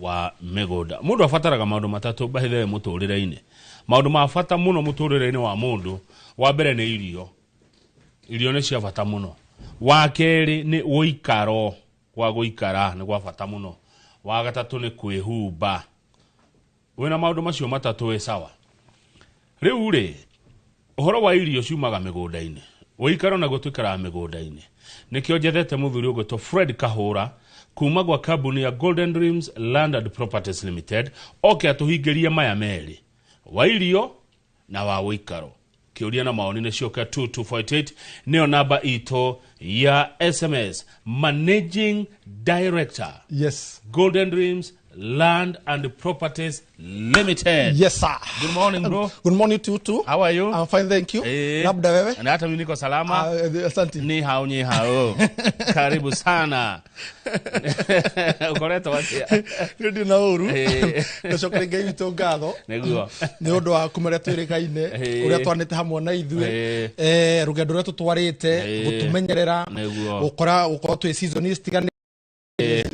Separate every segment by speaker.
Speaker 1: wa mĩgũnda mũndũ abataraga maũndũ matatũ bahithe mũtũrĩre-inĩ maũndũ ma bata mũno mũtũrĩre-inĩ wa mũndũ wa mbere nĩ irio irio nĩ cia bata mũno wa kerĩ nĩ gũikaro gwa gũikara nĩ gwa bata mũno wa gatatũ nĩ kwĩhumba wĩna maũndũ macio matatũ wĩ sawa rĩu-rĩ ũhoro wa irio ciumaga mĩgũnda-inĩ gũikara naguo tũikaraga mĩgũnda-inĩ nĩkĩo njethete mũthuri ũgwĩtwo fred kahũra kuma gwa kambuni ya golden dreams land and properties limited oke atũhingĩrie maya merĩ wa irio na wa ũikaro kĩũria na maoni nĩ cioka 2248 nĩyo namba itũ ya sms managing director yes
Speaker 2: golden dreams
Speaker 1: Land and Properties Limited. Yes sir. Good
Speaker 2: morning bro.
Speaker 1: Good morning to you too. How
Speaker 2: are you? I'm fine thank
Speaker 1: you.
Speaker 2: Eh, Labda wewe? Na hata mimi niko salama.
Speaker 1: Ah, eh, asante. Ni hao
Speaker 2: ni hao.
Speaker 1: Karibu sana. Ukoreta wapi? Ndio na uru.
Speaker 2: Eh. Tashokere ngai witũ ngatho. Nĩguo. Nĩ ũndũ
Speaker 1: wa kumere
Speaker 2: twĩrĩ gaine eh. ũrĩa twanĩte hamwe na ithuĩ. Eh rũgendo rũrĩa tũtwarĩte gũtũmenyerera. Nĩguo. Gũkora gũkorwo twĩ season citiganĩte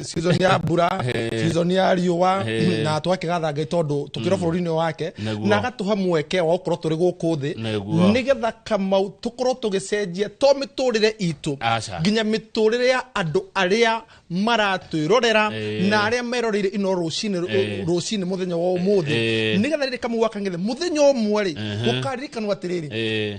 Speaker 2: season ya mbura season ya riũa na tũgakĩgatha ngai tondũ tũkĩra bũrũri-inĩ wake Naguo. na agatũha mweke wa gũkorwo tũrĩ gũkũ thĩ Naguo. nĩgetha kamau tũkorwo tũgĩcenjia to mĩtũrĩre itũ Aca. nginya mĩtũrĩre ya andũ arĩa maratwĩrorera Eh. na arĩa meroreire ino rũcinĩ Eh. rũcinĩ mũthenya wa ũmũthĩ Eh. nĩgetha rĩrĩ kamau wakang'ethe mũthenya ũmwe rĩ Ehe. ũkaririkanwo atĩrĩrĩ Eh,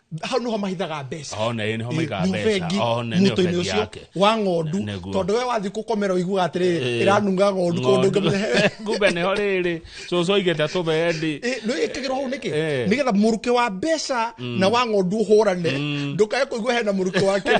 Speaker 2: hau nĩho mahithaga mbeca Oh, na ĩ, nĩho maigaga Nĩ mbeca.
Speaker 1: bengi, Oh, na nĩ mũtũinĩ bengi ũcio yake.
Speaker 2: wa ng'ondu Nĩguo. tondũ we wathiĩ kũkomera ũiguaga atĩrĩrĩ ĩranunga ng'ondu kũndũ ũngĩmenya kumbe nĩho
Speaker 1: rĩrĩ cũcũ aigĩte tũbendi nä ä kä gä rwo hau nä
Speaker 2: kä Eh. nä getha må rukä wa mbeca na wa ng'ondu å hå rane ndå kae kå igua hena må rukä wa kä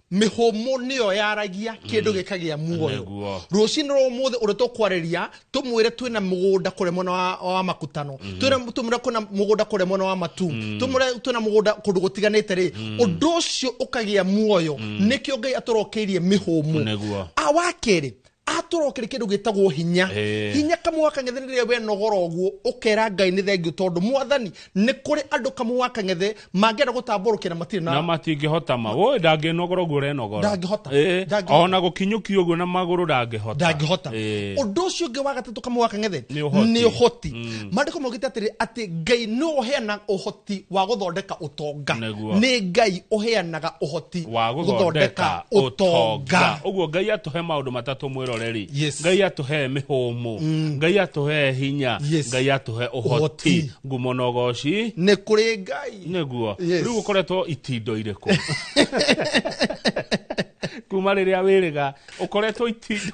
Speaker 2: mĩhũmũ nĩyo yaragia kĩndũ gĩkagĩa muoyo Nĩguo. rũcinĩ rwa ũmũthĩ ũrĩa tũkwarĩria tũmwĩre twĩna mũgũnda kũrĩa mwena wa, wa makutano Twĩna- tũmwĩre kwĩna mũgũnda kũrĩa mwena wa matu tũmwĩre twĩna mũgũnda kũndũ gũtiganĩte rĩ ũndũ ũcio ũkagĩa muoyo nĩkĩo ngai atũrokeirie mĩhũmũ Nĩguo. Ah, wa kerĩ atũra kĩrĩ kĩndũ gĩtagwo hinya Eh. hinya kamwe wa kang'ethe nĩ rĩrĩa wenogora ũguo ũkera ngai nĩ thengiũ tondũ mwathani nĩ kũrĩ andũ kamwe wa kang'ethe mangĩenda gũtambũrũkĩra matirĩ na na matingĩhota ma woi
Speaker 1: ndangĩnogora ũguo ũrenogora Ndangĩhota. Ĩĩ, Ndangĩhota.
Speaker 2: ona
Speaker 1: gũkinyũkia ũguo na magũrũ ndangĩhota ndangĩhota Ĩĩ. ũndũ ũcio
Speaker 2: ũngĩ wa gatatũ kamwe wa kang'ethe Nĩ ũhoti. nĩ ũhoti mandĩko maugĩte atĩrĩ atĩ ngai nĩ ũheana ũhoti ũhoti wa gũthondeka ũtonga Nĩguo. nĩ ngai ũheanaga ũhoti wa gũthondeka
Speaker 1: ũtonga ũguo ngai atũhe maũndũ matatũ mwĩroreri Yes. ngai atũhe mĩhũmũ ngai atũhe hinya Yes. ngai atũhe Ũhoti. ũhoti ngumo na ũgoci nĩ kũrĩ
Speaker 2: ngai nĩguo Yes. rĩu
Speaker 1: ũkoretwo itindo irĩkũ kuma rĩrĩa wĩrĩga ũkoretwo itindo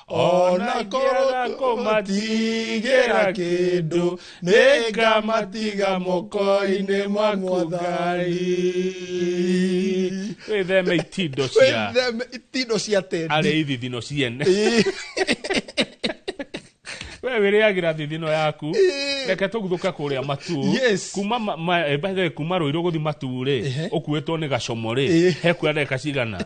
Speaker 2: ona ngorwo kũmatigĩra kĩndũ nĩ ngamatiga moko-inĩ ma mũthari
Speaker 1: wĩtheme itindo cia Wĩtheme
Speaker 2: itindo cia tendi arĩa ithithino ciene
Speaker 1: we wĩrĩagĩra thithino yaku Ĩĩ. reke tũguthũke kũrĩa matu Yes. kuma ma- ma- eh, by the way, kuma rũirũ gũthi matu-rĩ Ehe. ũkuĩtwo nĩ gacomorĩ Ĩĩ. he kuandeka cigana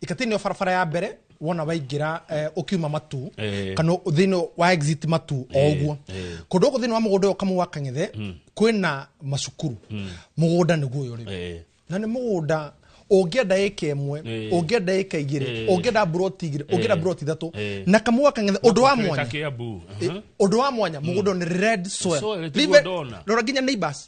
Speaker 2: ikatini yo barabara ya mbere wona waingĩra eh, ũkiuma matu Eh. kana thĩinĩ wa exit matu o ũguo eh. kũndũ gũkũ thĩinĩ wa mũgũnda ũyũ kamwe wa kang'ethe kwĩna macukuru mũgũnda nĩguo ũyũ rĩ Eh. na nĩ mũgũnda ũngĩenda ĩka ĩmwe Eh. ũngĩenda ĩka igĩrĩ Eh. ũngĩenda mburoti igĩrĩ ũngĩenda mburoti ithatũ Eh. na kamwe wa kang'ethe ũndũ wa mwanya Kiambu. Aha. ũndå wa mwanya må gå ndå nä red soil. Soil, tiguo Live- ndona. rora nginya neighbors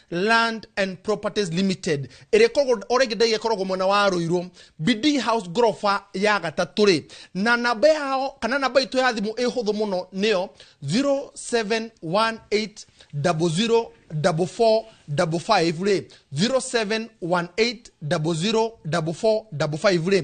Speaker 2: land and properties limited ĩrĩa ĩkoragwo o rĩngĩ ndege ĩkoragwo mwena wa rũirũ bd house ngoroba ya gatatũ rĩ na namba yao kana namba itũ ya thimũ ĩ hũthũ mũno nĩyo 0718004455 rĩ 0718004455 rĩ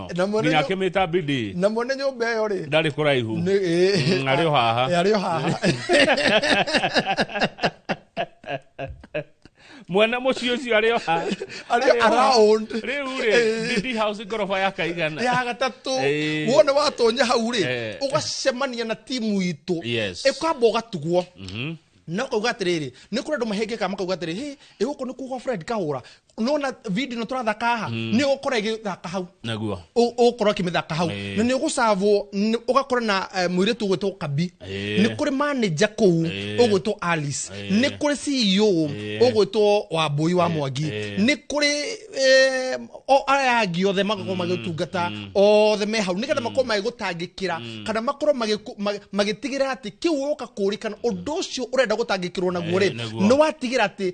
Speaker 1: na mwene nginya nyu- akĩmĩta bidi na mwene nyũmba ĩyo
Speaker 2: rĩ ndarĩ kũraihu nĩ
Speaker 1: Mm, arĩ o haha. Eh, arĩ o haha mwene mũciĩ ũcio arĩ o haha arĩ Arĩ o haha.
Speaker 2: around rĩu rĩ
Speaker 1: Eh. bidi house ngoroba ya kaigana ya gatatũ
Speaker 2: Eh. wona watonya hau rĩ Eh. ũgacemania na timu itũ Yes. ĩkwamba ũgatugwo Mhm. na ũkauga atĩrĩrĩ nĩ kũrĩ andũ mahĩngĩka makauga atĩrĩ hĩ ĩgũkũ nĩ kuga fred kahũra nona video no turathaka haha mm. ni ukora igithaka hau naguo ukora kimithaka hau na ni ugucavwo ugakora na eh, muiritu gwitwo kabi ni kuri manager ku ugwitwo Alice ni kuri CEO ugwitwo wa mbui wa mwangi ni kuri eh, o aya angi othe magakorwo mm, magitungata mm. othe me hau nigetha mm. makorwo magigutangikira kana makorwo magitigira ati kiu uka kurikana undu ucio urenda gutangikirwo naguo ri ni watigira ati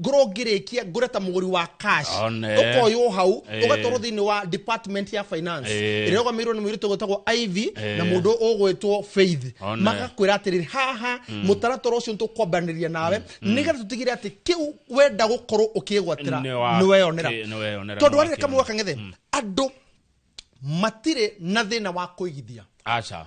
Speaker 2: ngorwo ngĩrĩkia ngũre ta mũgũri wa cash One. ũkoywo hau Eh. ũgatwarwo thĩinĩ wa department ya finance Eh. ĩrĩa ũgamirwo nĩ mũirĩtu gwĩtagwo ivy Eh. na mũndũ ũgwĩtwo faith One. magakwĩra atĩrĩrĩ haha mũtaratara ũcio nĩtũkwambanĩria nawe nĩgetha tũtigĩre atĩ kĩu wenda gũkorwo ũkĩĩgwatĩra Nĩ wa- nĩweyonera kĩ- nĩweyonera, tondũ nĩwakĩona. arĩrĩ kamwe wakang'ethe andũ matirĩ na thĩna wa kũigithia aca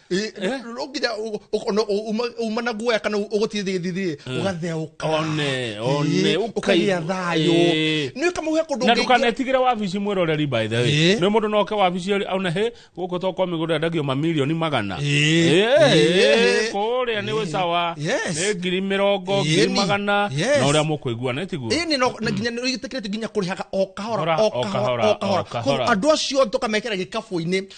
Speaker 1: Eh, Eh? no nginya
Speaker 2: ũ- ũ- ona ũ- uma- uma na guoya kana ũgũtire thigithithirĩ ũgatheũka one one
Speaker 1: ũkagĩa
Speaker 2: thayũ Eh. nä kamå he kå na ndå ndũkanetigĩre wabici
Speaker 1: mwĩroreri by the way Eh. nĩ mũndũ noke wabici ori- aune hĩ gũkũ to kwa mĩgũnda ndagio mamirioni magana Eh. Eh, Eh. kũrĩa nĩ wĩcawa Yes. nĩ ngiri mĩrongo Eh, ngiri ni. magana Yes. na ũrĩa mũkũigua nĩ tiguo ä nä no na nginya nä
Speaker 2: tä kä rä te nginya kå rä haga o kahora Hora, o o kahora, kahora o o kahora kahora. andå acio tå kamekera gä kabå-inä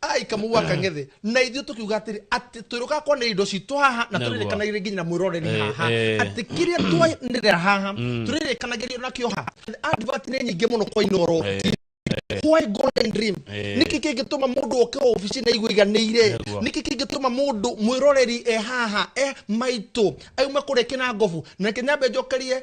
Speaker 1: aikamuwaka ng'ethĩ
Speaker 2: na ithuĩ tũkiuga atĩrĩ atĩ twĩrũka kuona indo citũ haha na Naguo. tũrĩrĩkanagĩria nginya na mwĩroreri Eh, haha eh. atĩ kĩrĩa twanĩrĩra haha tũrĩrĩkanagĩria nakĩo haha advert nĩ nyingĩ mũno kwa inoro why golden dream Eh. nĩkĩ kĩngĩtũma mũndũ oke obici na igũiganĩire Naguo. nĩkĩ kĩngĩtũma mũndũ mwĩroreri e haha e maitũ auma kũrĩa kĩnangobu na kĩnyambe njokerie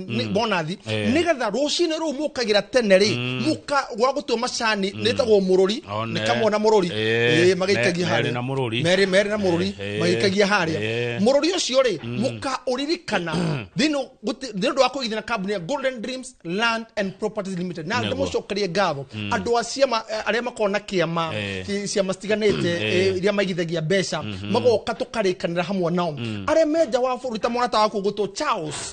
Speaker 2: nĩ- bonathi Eh. nĩgetha rũcinĩ rũu mũkagĩra tene rĩ mũka gwa gũtua macani nĩtagwo mũrũri One. nĩkamwona mũrũri Eh, Eh, magĩikagia me- harĩa. merĩ na mũrũri. Merĩ- merĩ na mũrũri Eh, eh. magĩikagia harĩa Eh. mũrũri ũcio rĩ mũkaũririkana thĩinĩ wa- gũti- nĩ ũndũ wa kũigithana kambuni ya golden dreams land and properties limited na Nĩguo. ndĩmũcokerie ngatho andũ a ciama eh, arĩa makoragwo na kĩama Eh. ci- ciama citiganĩte eh, iria maigithagia mbeca magoka tũkarĩkanĩra hamwe nao arĩa menja wa bũrũri ta mwanata waku gũtũ charles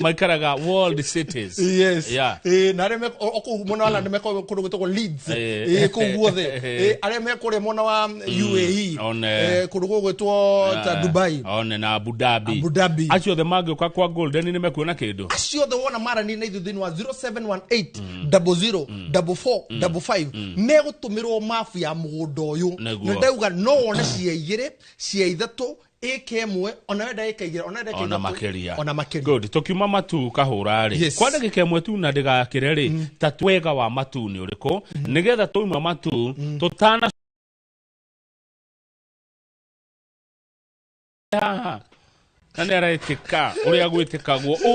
Speaker 1: maikara ga world cities yes yeah. eh
Speaker 2: na reme oku mona wala neme ko kundu gutoko leeds eh ko guothe eh are me kore mona wa mm, UAE on eh kundu gutwo ta Dubai on na Abu Dhabi
Speaker 1: Abu Dhabi acio the magio kwa kwa golden nime kuona kindu acio the wona mara ni
Speaker 2: naithu thini wa 0718 00 44 me gutumirwo mafu ya mugundo uyu ni ndauga no wone cia igire cia ithatu ĩka ĩmwe onawe ndagĩka igĩrĩ onawe ndagĩka ona makĩria ona makĩria good tukiuma matu
Speaker 1: kahũra rĩ yes. kwa ndagĩka ĩmwe tu na ndĩgakĩre rĩ mm. ta twega wa matu nĩ ũrĩkũ mm. nĩgetha twauma matu mm. tũtana haha na nä araetä ka å rä a gwä tä kagwo å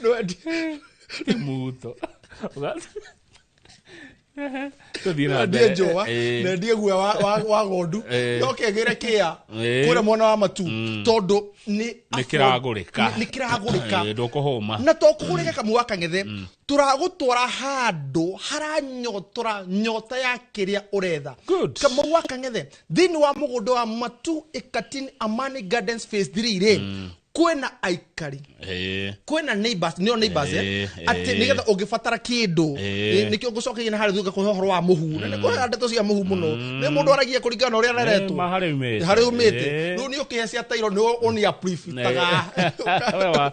Speaker 2: no, Qué muto. nandie njũa nendie guoya wa ng'ondu yoke ngĩre kĩa kwĩra mwana wa matu tondũ nĩ
Speaker 1: kĩragũrĩka
Speaker 2: na to kũgũrĩka kamwe wa kang'ethe tũragũtwara handũ haranyotora nyota ya kĩrĩa ũretha kamau wa kang'ethe thĩinĩ wa mũgũnda wa matu ĩkatin amani gardens phase 3 rĩ kwĩna aikari Eh, kwĩna neighbors nĩo neighbors eh, Eh, atĩ eh. nĩgetha ũngĩbatara kĩndũ Eh. eh, nĩkĩo ngũcokeire na harĩa thutha kũhe ũhoro wa mũhu na nĩ kũhe ndeto cia mũhu mũno nĩ mũndũ aragia kũringana na ũrĩa areretwo ma harĩa umĩte. harĩa umĩte Eh. rĩu nĩ ũkĩhe cia tairo nĩ ũnia prifitaga Wewe wa-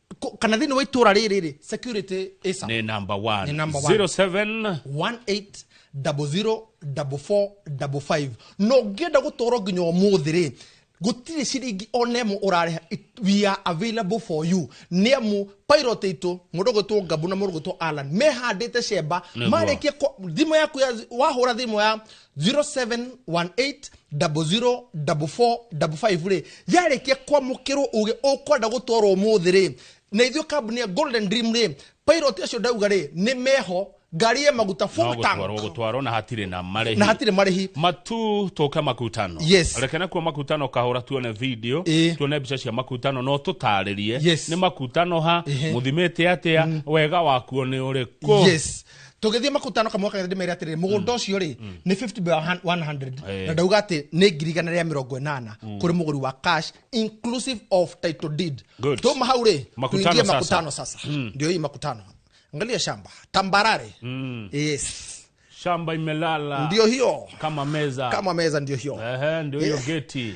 Speaker 2: Ko- kana thĩinĩ wa itũra rĩrĩ rĩ security ĩsa nä number Nĩ one
Speaker 1: number one. 07 18004455
Speaker 2: no ngĩenda gũtwarwo nginya ũmũthĩ rĩ gũtirĩ ciringi ona ĩmwe ũrarĩha It- we are available for you nĩ amu pilot itũ mũndũ gwĩtwo ngabu na mũndũ gwĩtwo alan mehandĩte cemba Nĩguo. marĩkie kwa- thimũ yaku ya- wahũra thimũ ya 0718004455 rä yarĩkia kwamũkĩrwo ũgĩ ũkwenda gũtwarwo mũthĩ rĩ na ithuĩ kambuni ya golden dream rĩ pilot acio ndauga rĩ nĩ meho ngari ya maguta no full tank gũtwarwo gũtwarwo na hatirĩ na
Speaker 1: marĩhi na hatirĩ marĩhi
Speaker 2: matu tũke
Speaker 1: makutano Yes. reke nakuo
Speaker 2: makutano
Speaker 1: kahũra tuone video Ĩĩ. tuone mbica cia makutano no tũtarĩrie Yes. nĩ makutano ha Ĩhĩ. mũthimĩte atĩa wega wakuo nĩ ũrĩkũ yes tũgĩthiĩ
Speaker 2: makutano kamwe kagĩra ndĩmere atĩrĩrĩ mũgũnda ũcio rĩ nĩ 50 by 100 Eh. na ndauga atĩ nĩ ngiri igana rĩa mĩrongo ĩnana kũrĩ mũgũri wa cash inclusive of title deed Good. tuma hau rĩ Makutano tuingie sasa. makutano sasa ndio hii makutano angalia shamba tambarare yes shamba
Speaker 1: imelala ndio hiyo kama
Speaker 2: meza kama
Speaker 1: meza ndio hiyo Ehe,
Speaker 2: ndio hiyo Eh. geti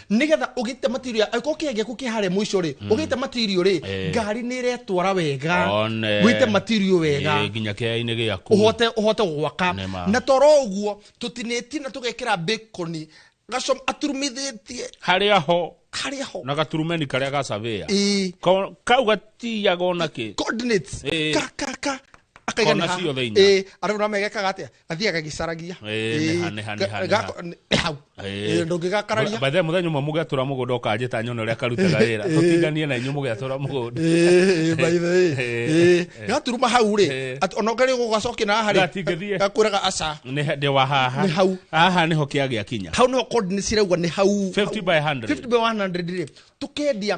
Speaker 2: nigetha ugite material angĩkorwo kĩhĩa gĩaku kĩ harĩa mũico rĩ ugite material rĩ Eh. ngari nĩ ĩretwara wega One. wite material wega Eh, nginya kĩainĩ gĩaku
Speaker 1: uhote uhote gwaka
Speaker 2: Nema. na toro ũguo tũtinĩtie na tũgekĩra bacon gacom aturumithĩtie harĩa ho
Speaker 1: harĩa ho na gaturumeni karĩa gacavĩa Ĩĩ. Ko- kau gatiyaga ona kĩ coordinates Eh. ka
Speaker 2: ka ka akaiga Kona nĩ haha.
Speaker 1: ciothe inya. Eh, arĩ na megekaga atĩa
Speaker 2: athiaga gĩcaragia Ĩĩ, nĩha, nĩha, nĩha, nĩha. hau Ĩĩ. ndũngĩgakararia By the way, mũthenya ũmwe
Speaker 1: mũgĩatũra mũgũnda ũkanjĩta nyone ũrĩa karutaga wĩra tũtinganie na inyuĩ mũgĩatũra mũgũnda Ĩĩ, by the way. Ĩĩ. Ĩĩ.
Speaker 2: gaturuma hau rĩ Ĩĩ. at- ona ũngari gũgacokĩ na harĩ Gatingĩthiĩ. gakwĩraga aca Nĩ he- ndĩ wa haha
Speaker 1: Nĩ hau. haha nĩho kĩagĩa kinya hau nĩho code nĩ cirauga
Speaker 2: nĩ hau 50 by 100. 50
Speaker 1: by 100 rĩ
Speaker 2: tũkendia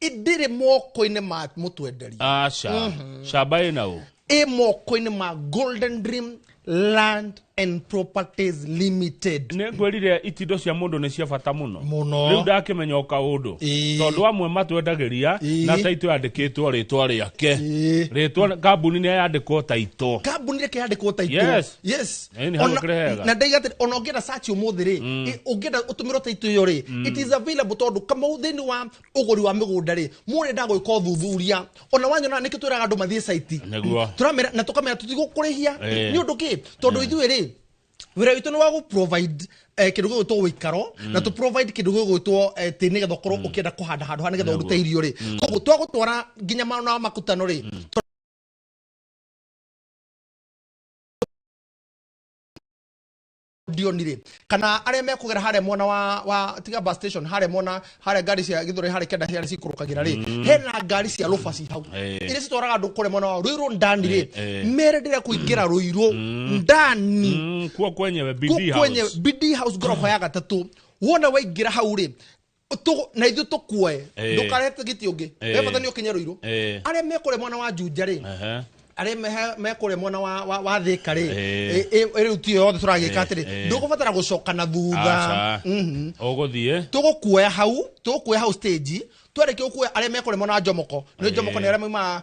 Speaker 2: ndĩrĩ moko-inĩ ma mũtwenderia aca camba
Speaker 1: ĩ na ũ ĩ moko-inĩ ma
Speaker 2: golden dream land and properties limited nä ngwä rire itindo
Speaker 1: cia må ndå nä cia bata må no Mũno. rä u ndakĩmenya o kaå ndå Ĩĩ. tondå amwe matwendagä ria Ĩĩ. na taitå yandä kä two rä twa rä ake Ĩĩ. rä twa kambuni nä yandä kwo taitå kambuni reke yandikwo ta
Speaker 2: itå Yes. yes Ĩĩ, nĩ hau Ona- ũkĩrehega. na ndaiga atĩrĩ, ona ũngĩenda search ũmũthĩ rĩ ĩ, ũngĩenda ũtũmĩrwo ta itå ĩyo rĩ it is available tondũ kamau thĩinĩ wa ũgũri wa mĩgũnda rĩ mũrenda gwĩka ũthuthuria ona wanyona nĩkĩ twĩraga andũ mathiĩ caiti Nĩguo. Tũramera- na tũkamera tũtigũkũrĩhia Eh. nĩ ũndũ kĩ tondũ ithuĩ rĩ wĩra witũ nĩ wa gũ provide eh, kĩndũ gĩgwĩtwo ũikaro na tũ provide kĩndũ gĩgwĩtwo eh, tĩ nĩgetha ũkorwo ũkĩenda kũhanda handũ ha nĩgetha ũrute irio rĩ koguo twagũtwara nginya maona makutano rĩ tũ- ndionire kana arĩa mekũgera harĩa mwena wa, wa tiga bus station harĩa mwena harĩa ngari cia gĩthũrai harĩa kenda harĩa cikũrũkagĩra rĩ hena ngari cia rũbaci hau Eh. iria citwaraga andũ kũrĩa mwena wa rũirũ ndani rĩ Eh, eh. mere ndĩrĩa kũingĩra rũirũ ndani Mm, kuo kwenyewe
Speaker 1: bidii kwenye house. BD
Speaker 2: house ngorofa ya gatatũ wona waingĩra hau rĩ Tũ- na ithuĩ tũkuoe Eh. ndũkarehete gĩtĩ ũngĩ Eh. we bata nĩ ũkinye rũirũ Eh. arĩa mekũrĩa mwena wa njunja rĩ Aha. arĩa mehe- mekũrĩa mwena wa- wa- wa thĩka rĩ Eh. ĩ- ĩ- rĩu tiyo yothe tũragĩka Eh, atĩrĩ eh. ndũgũbatara gũcoka na thutha Aca. Mhm. ũgũthiĩ
Speaker 1: tũgũkuoya hau
Speaker 2: tũgũkuoya hau stage twarĩkia gũkuoya arĩa mekũrĩa mwena wa njomoko nĩ njomoko nĩ arĩa maumaga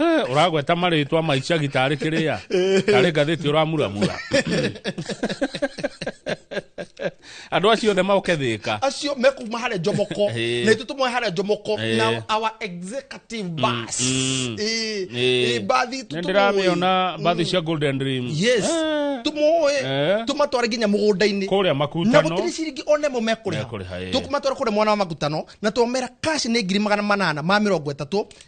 Speaker 1: Eh, ũragweta marĩtwa maicagi tarĩ kĩrĩa tarĩ ngathĩti ũramuramura andå acio othe moke thä ka acio mekuma harä
Speaker 2: njomoko Ĩĩ. na itå tå moe harä njomoko Ĩĩ. na our executive bus mm. Ĩĩ. Ĩĩ, mbathi itũ nä ndä tũmũĩ. ramä ona
Speaker 1: mbathi cia golden dream yes Eh, tå
Speaker 2: moä Eh. tå matware nginya må gå ndainä kå rä a na makutano gũtirĩ
Speaker 1: ciringi ona ĩmwe
Speaker 2: mekũrĩha Mekũrĩha, ĩĩ. tũkũmatwara kũrĩa mwana wa makutano na twamera kaci nĩ ngiri magana manana ma mĩrongo ĩtatũ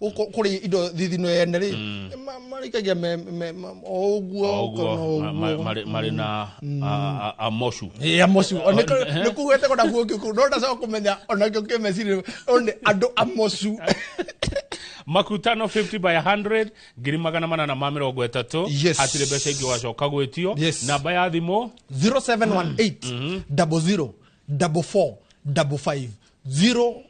Speaker 2: Gũkũ- kũrĩ indo thithino ene rĩ ma- marĩkagia me- me- ma- o ũguo kana oguo ma- ma- ũguo marĩ- marĩ na a-
Speaker 1: a- amocu ya mocu nä
Speaker 2: kuhete kona guo kä kå no ndacoka kå menya ona kä kä mecirä nä andå a mocu
Speaker 1: makutano 50 by 100 ngiri magana manana ma mĩrongo ĩtatũ Yes. hatirĩ mbeca ingĩ wacoka gwĩtio Yes. namba ya thimũ 0718
Speaker 2: 00 44 55 0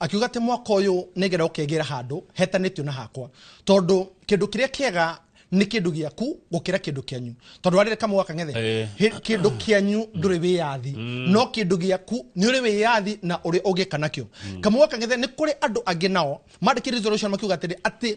Speaker 2: akiuga atĩ mwaka ũyũ nĩgetha ũkegĩra handũ hetanĩtio na hakwa tondũ kĩndũ kĩrĩa kĩega nĩ kĩndũ gĩaku gũkĩra kĩndũ kĩanyu tondũ warĩre kamwe gaka ng'ethe Eh. hĩ- kĩndũ kĩanyu ndũrĩ wĩyathi no kĩndũ gĩaku nĩ ũrĩ wĩyathi na ũrĩ ũgĩka nakĩo kamwe gaka ng'ethe nĩ kũrĩ andũ angĩ nao mandĩkĩte resolution makiuga atĩrĩ atĩ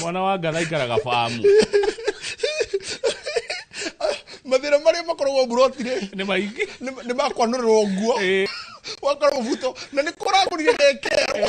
Speaker 1: mwana wa ngatha aikaraga famu
Speaker 2: mathira maria makoragwo mburotire nä maingä
Speaker 1: nä makwanå rä
Speaker 2: rwo nguo wakoragwo buto na nä kå ragårire ndekerwo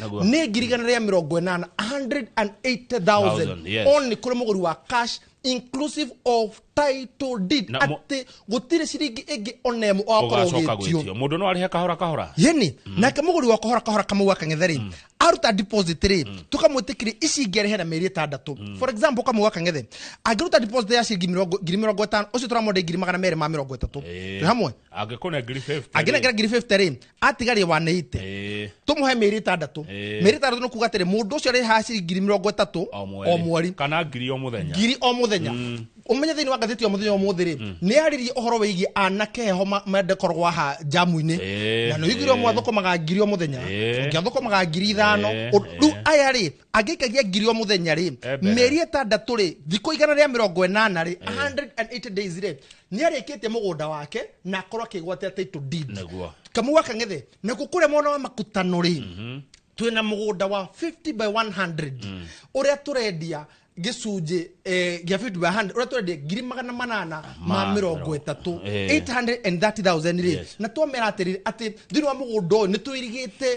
Speaker 1: Naguo. nĩ ngiri igana rĩa mĩrongo ĩnana 180000 Thousand, yes. on nĩ kũrĩ mũgũri wa cash inclusive of title deed Na mo- atĩ gũtirĩ ciringi ĩngĩ ona ĩmwe ũgacoka ũgakorwo gwĩtio gwĩtio mũndũ no arĩhe kahora kahora yeni nake
Speaker 2: mũgũri wa kahora kahora kamau akang'ethe rĩ aruta deposit rĩ tũkamwĩtĩkĩria ici ingĩ arĩhe na mĩeri ĩtandatũ for example kamau akang'ethe angĩruta deposit ya ciringi mĩrongo- ngiri mĩrongo ĩtano ũcio tũramwendei ngiri magana merĩ ma mĩrongo ĩtatũ Ĩĩ. Twĩ hamwe angĩkorwo nĩ ngiri 50
Speaker 1: angĩnengera ngiri 50 rĩ
Speaker 2: atigarie 180 Eh, tũmũhe mĩeri ĩtandatũ Eh. mĩeri ĩtandatũ nĩ kuga atĩrĩ mũndũ ũcio arĩhaga ciringi ngiri mĩrongo ĩtatũ o mweri. o mweri kana ngiri o mũthenya
Speaker 1: ngiri o mũthenya ũmenye thĩinĩ wa
Speaker 2: ngathĩti ya mũthenya wa mũthĩ rĩ nĩ arĩrie ũhoro wĩgiĩ anake heho ma- mendekorwo haha jamu-inĩ Eh, na nĩ ũiguire eh. mwathũkũmaga ngiri o mũthenya Eh. ũngĩathũkũmaga ngiri ithano Eh, Ũ- rĩu eh. aya rĩ angĩikagia ngiri o muthenya ri Eh, mbere. mĩeri ĩtandatũ rĩ thikũ igana rĩa mĩrongo ĩnana rĩ 180 days rĩ nĩ arĩkĩtie mũgũnda wake na akorwo akĩgwatia title deed Nĩguo. kamau gaka ng'ethe nakuo kũrĩa mwena wa makutano rĩ twĩ na mũgũnda wa 50 by 100 ũrĩa tũrendia gĩcunjĩ eh, gĩa 50 by 100 ũrĩa tũrendia ngiri magana manana ma Ma mĩrongo mĩrongo- ĩtatũ eh. 830,000 rĩ Yes. na twamera atĩrĩrĩ atĩ thĩinĩ wa mũgũnda ũyũ nĩ twĩrigĩte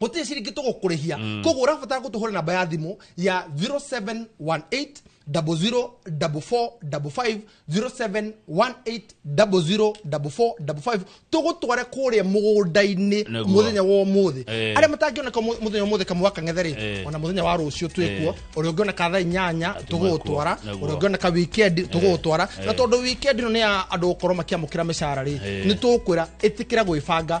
Speaker 2: gũtirĩ ciringi tũgũkũrĩhia mm. koguo ũrabatara gũtũhũra namba ya thimũ ya 0718 tũgũtware kũrĩa mũgũnda-inĩ mũthenya wa ũmũthĩ eh. arĩa matangĩoneka mũthenya ũmũthĩ kamũa kang'ethe rĩ eh. ona mũthenya wa rũciũ twĩkuo eh. ũrĩa ũngĩoneka thaa inyanya tũgũgũtwara ũrĩa ũngĩoneka wikendi tũgũgũtwara na tondũ wikendi ĩno nĩ ya andũ gũkorwo makiamũkĩra mĩcara rĩ nĩ tũkwĩra ĩtĩkĩra gwĩbanga